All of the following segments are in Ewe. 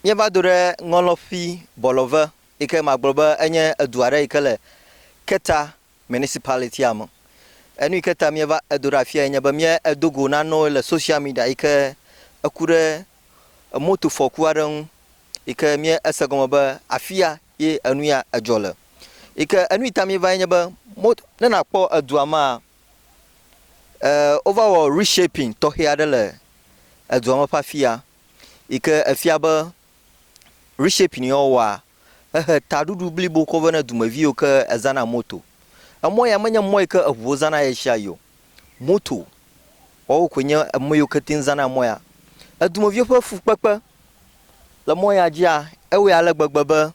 Míeva do ɖe ŋɔlɔ̃fi Bɔlɔve yi ke magblɔ be enye edu aɖe yi ke le Keta Municipality-a me. Enu yi ke ta míeva edo ɖe afiae nye be míedo go nanewo le social media yi ke eku ɖe motofɔku aɖe ŋu yi ke míese gɔme be afia ye enu ya edzɔ le. Yi ke enu yi ta míevae nye be mot, ne nàkpɔ edua mea, e, wova wɔ reshaping tɔxɛ aɖe le edua me ƒe afia. yi ke efia be reshaping ya wowɔa, ehe taɖuɖu blibo kɔ vɛ ne dumevi yiwo ke ezãna moto. Emɔ ya menye mɔ yi ke eŋuwo zãna ɣeshiaɣi o. Moto woawo koe nye emɔ yiwo ke te ŋu zãna mɔ ya. Edumeviwo ƒe fukpekpe le mɔ ya dzia, ewɔe ale gbegbe be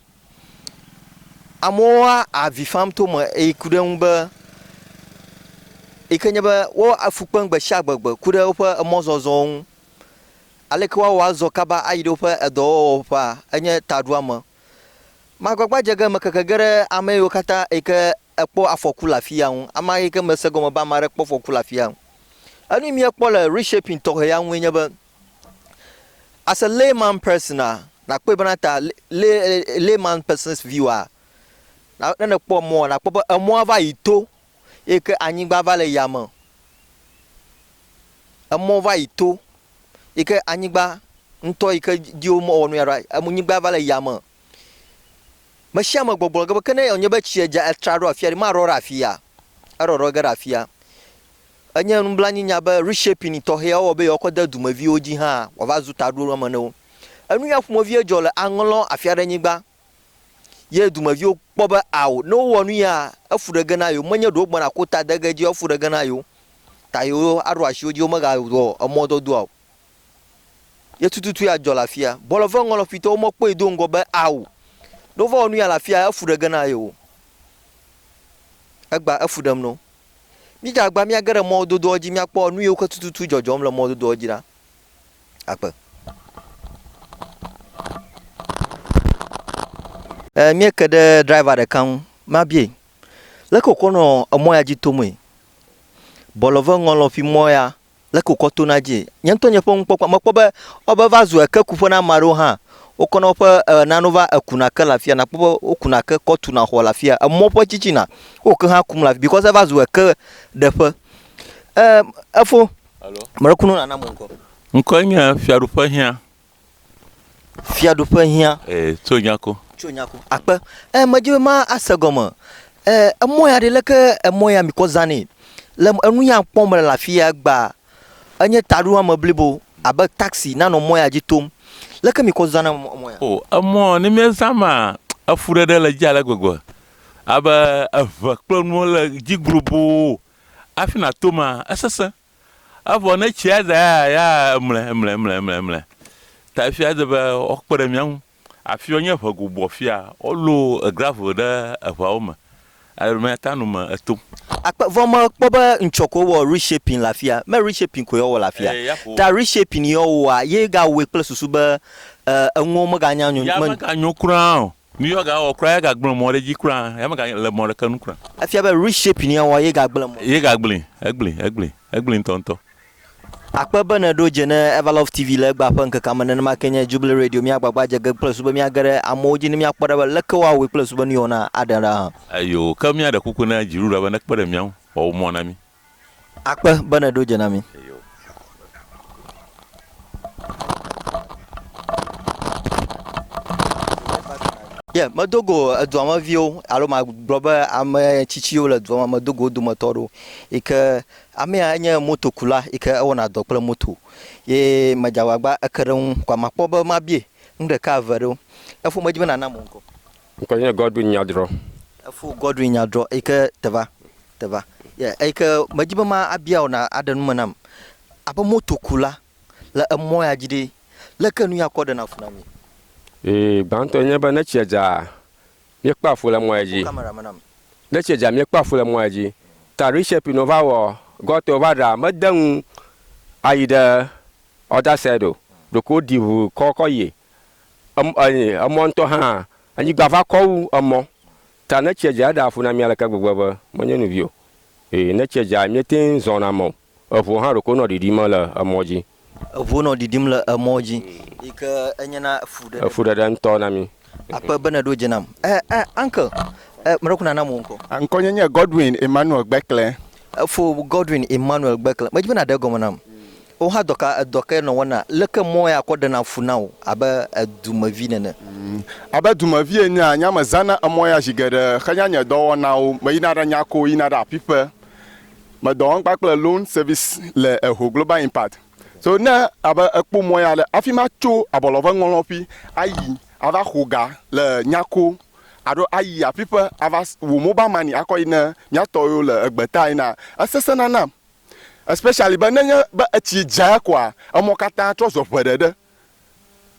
amewo avi fam to eme eye ku ɖe eŋu be yi ke nye be wo afu kpem gbesiagbe gbe ku ɖe woƒe emɔzɔzɔwo ŋu. Aleke woawɔ azɔ kaba ayi ɖe woƒe edɔwɔwɔƒea? Enye taɖoame. Magbagba dze ge mekeke ge ɖe ame yiwo katã yi ke ekpɔ afɔku le afia ŋu, ame yi ke mese gɔme be ame aɖe kpɔ afɔku le afia ŋu. Enu yi míekpɔ le Reshaping tɔxɛ ya ŋue nye be, as a layman person a, nàkpɔe bena ta lay, layman person's view a, ne nèkpɔ emɔa, nàkpɔ be emɔa va yi to eye ke anyigba va le yame o, emɔ va yi to, yi ke anyigba ŋutɔ yi ke dzi wome wɔ nu ya ɖo, anyigba va le yame. Me sia me gbɔgblɔ ge be, ke ne wònye be tsi dza etra ɖo afi aɖe, maɖɔ ɖe afia? Eɖɔɖɔ ge ɖe afia. Enye nublanuinya be reshaping tɔxɛ wowɔ be yewoakɔ de dumeviwo dzi hã wòava zu taɖoame na wo. Enu ya ƒomevie dzɔ le Aŋlɔn afi aɖe nyigba. Ye dumeviwo kpɔ be ao, ne wowɔ nu yea, efu ɖe ge na yewo, menye ɖe wogbɔna ko ta de ge edzia, wofu ɖe ge na yewo, ta yewo aɖo asi wo dzi, womegawɔ emɔdɔdɔa o. Ye tututu ya dzɔ le afia. Bɔlɔ ve ŋɔ lɔƒitɔwo mekpɔe do ŋgɔ be ao, ne wova wɔ nu ya le afia, efu ɖe ge na yewo. Egba efu ɖem no. Mídze agba míage ɖe mɔdodoa dzi míakpɔ nu yiwo ke tututu dzɔdzɔm le mɔdodoa dzi ɖa. agbe. E, míeke ɖe driver ɖeka ŋu, mabie, leke wòkɔ nɔ emɔ ya dzi tomee? Bɔlɔve ŋɔlɔ ƒi mɔ ya, leke wòkɔ tona dzie? Nye ŋutɔ nye ƒe nukpɔkpɔ, mekpɔ be wobe va zu ekekuƒe na ame aɖewo hã. Wokɔ na woƒe e, nanewo va ekuna ke le afia, nàkpɔ be wokuna ke kɔ tuna xɔ le afia, emɔ ƒe tsitsina, wo ke hã kum le afi, because eva zu eke ɖeƒe. E, efo. Alo. Ame ɖe ku no nana mo ŋkɔ. Ŋkɔe nye Fiaɖuƒe Hiã. Fiaɖuƒe Hiã. Ee, tso nya ko. Tso nya ko. Akpe. E, medzi be ma ase gɔme. E, emɔ ya ɖe leke emɔ ya mi kɔ zã ne. Le enu ya kpɔm le afi ya gba. Enye taɖo ame blibo abe taxi nanɔ mɔ ya dzi tom. Leke mi kɔ zã na mɔ ya? O, emɔ ne mi zã ma, efu ɖeɖe le dzi ale gbegbe. Abe eve kple nuwo le dzi globo. Hafi nàto mea, esesẽ. Evɔ ne tsi ade aya ya emle, emle, emle, emle, emle. Ta efia ede be woakpe ɖe mía ŋu. Afia wonye ʋe gobo afia. Wolɔ gravel ɖe eʋeawo me ale be míate ŋu ano me eto. Akpe. Vɔ mekpɔ be ŋtsɔ koe wɔ reshaping le afia. Me reshaping koe wowɔ le afia. Ta reshaping yi wowɔa, ye ga wɔe kple susu be enuwo mega nyo, me. Ya mega nyo kura o. Nu ye wòagawɔ kura, egagblẽ mɔ ɖe edzi kura, eya megale mɔ ɖeke nu kura. Efia be reshaping ye wòawɔ ye gagblẽ mɔ. Ye gagblẽe, egblẽe, egblẽe, egblẽe ŋutɔŋutɔ. Akpe be nèɖo dze ne Everlove TV le egbea ƒe ŋkekea me. Nenema kee nye Jubilee Radio. Míagbagba adze ge kple zu be míage ɖe amewo dzi ne míakpɔ ɖa be leke woawɔe kple zu be nu ye wòna aɖe ɖa hã. Eyoo, ke míaɖe kuku na Dziɖuɖua be nekpe ɖe mía ŋu wòawɔ mɔ na mí. Akpe be nèɖo dze na mí. Yeah, medo go edua me viwo alo magblɔ be ame tsitsiwo le dua me medo go wo dometɔ aɖewo yi ke amea enye motokula yi ke ewɔna dɔ kple moto ye medze agbagba eke ɖe eŋu kɔ makpɔ be mabie nu ɖeka eve ɖewo. Efo medzi be nànam wò ŋkɔ. Ŋkɔ nye Godwin Nyadrɔ. Efo Godwin Nyadrɔ eyi ke teva, teva, ye eyi ke medi be ma abia wò na aɖe nu me nam. Abe motokula le emɔ ya dzi ɖe, le ke nuya kɔ ɖena fu na mi? Ee, gbãtɔ nye be ne tsia dzaa, míekpɔa fu le mɔ ya dzi. Ne tsia dza, míekpɔa fu le mɔ ya dzi. Ta reshape nɔ va wɔ, gɔtɔ va ɖa, mede ŋu ayi ɖe other side o, ɖeko woɖi ŋu kɔ kɔ yi. emɔ ŋutɔ hã, anyigba va kɔ wu emɔ. Ta ne tsia dza, eɖea fu na mí aleke gbegbe be menye nu vi o. Ee, ne tsia dza, míetee ŋu zɔna mɔ. Eŋuwo hã ɖeko nɔ ɖiɖim le emɔ dzi. Eŋuwo nɔ ɖiɖim le emɔ dzi, yi ke enyena fuɖeɖe. Fuɖeɖe ŋutɔ na mí. Akpe be nèɖo dze nam. Ɛ, ɛ, uncle, ɛ, meɖe ku nanam wò ŋkɔ. Ŋkɔ nye nye Godwin Emmanuel Gbekle. Efo Godwin Emmanuel Gbekle. Medzi be nàɖe egɔme nam. Wò hã dɔka edɔ kae nɔ wɔna? Leke mɔe akɔ ɖena fu na wò abe edumevi nene? Abe dumevi enea, nya mezãna emɔ ya zi geɖe henya nye dɔwɔnawo. Meyina ɖe Nyako yina ɖe aƒiƒe. Medɔ wɔm kpakple Loan Service le Eho Global Impact. So ne abe ekpɔ mɔ ya ɖe, hafi matso abɔlɔve ŋɔlɔƒi ayi ava xo ga le Nyako alo ayi aƒiƒe ava wɔ mobile money akɔ yi ne mía tɔwo yiwo le egbeta ena, esesẽna nam especially be nenye be etsi dza koa emɔ katã trɔ zɔ ʋe ɖe ɖe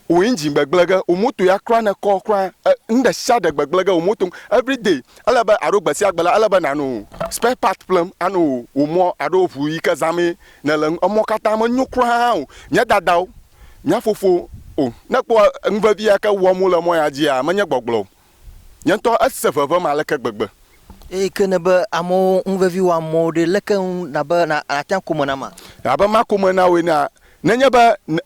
wò engine gbegblẽ ge, wò moto ya kura ne kɔ kura nuɖesiaɖe gbegblẽ ge wò moto everyday ele be alo gbesiagbe la ele be nànɔ spare part ƒlem anɔ wò mɔ alo ʋu yike zãmee nèle ŋu emɔ katã menyo kura hã o. Nye dadawo, nye fofowo oh ne kpɔ nuvevi yike wɔm wole mɔ ya dzia menye gbɔgblɔ o. Nye ŋutɔ ese ʋeʋẽm aleke gbegbe! Eye ke ne be amewo ŋu vevi wɔ amewo ɖe, leke ŋu nàbe nàtia kome nam a? Abe ma kome na wò enea? Nenye be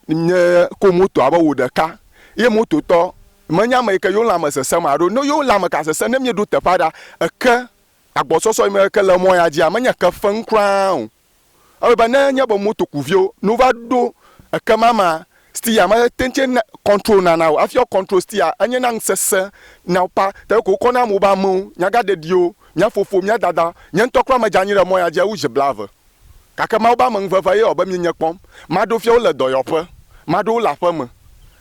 nye ko moto abe wò ɖeka, eye mototɔ menye ame yi ke yewo lãme sesẽm haɖe o. Ne yewo lãme ka sesẽ ne mieɖo teƒe aɖe ake agbɔsɔsɔ yi me ke le mɔ ya dzia, menye ke fem kura o. Ewɔe be ne nye be motokuviwo no va ɖo eke ma ma stiya ma te tse na control na na o afi control stiya enye na ŋsese na pa te ko kɔ na mo ba mewo nyaga ɖeɖiwo mia fofo mia dada nye ŋtɔ kura me dza nyi ɖe mɔ ya dzi ewu zi blave gake mawo ba me ŋveve ye wɔ be mi nye kpɔm ma ɖo fia wo le dɔyɔƒe ma ɖo wo le aƒe me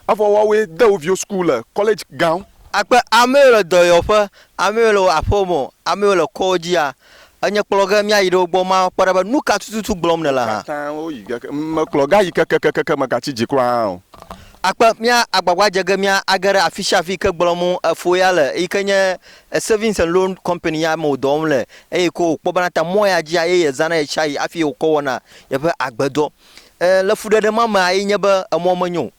evɔ wa woe de wo viwo school le college gawo. Akpe amewo le dɔyɔƒe amewo le aƒe me amewo le kɔdzia Enye kplɔ ge míayi ɖe wo gbɔ makpɔ ɖa be nu ka tututu gblɔm nèle hã. Katã woyi ge ke, mekplɔ ge ayi kekekekeke megatsi dzi kura hã o. Akpe mía agbagba dze ge mía age ɖe afisiafi ke gblɔm efo ya le yi ke nye Savings and Loan Company ya me wòdɔ wɔm le eye ko wòkpɔ bena ta mɔ ya dzia eye yezãna ɣeshiaɣi hafi ye wòkɔ wɔna yeƒe agbedɔ. E, le fuɖeɖe ma mea ye nye be emɔ menyo o.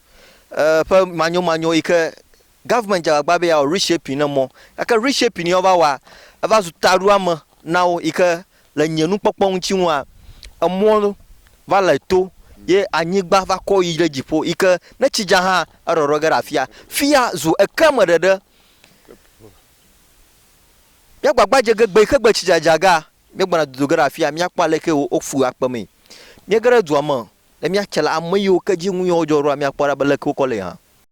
E, ƒe manyomanyo yi ke Government dze agbagba be yeawɔ reshaping ne mɔ gake reshaping ye wova wɔa, eva zu taɖoame na wo yi ke le nye nukpɔkpɔ ŋuti ŋua, emɔ va le to ye anyigba va kɔ yi ɖe dziƒo yi ke ne tsi dza hã erɔrɔ ge ɖe afia. Fia zu eke me ɖeɖe. Míagbagba dze ge gbe yi ke gbe tsi dza dza gea, míegbɔna dodo ge ɖe afia míakpɔ ale ke wo wofu akpe mee. Míege ɖe dua me le míatse la, ame yiwo ke dzi nu yawo dzɔ ɖoa, míakpɔ ɖa be leke wokɔ le hã.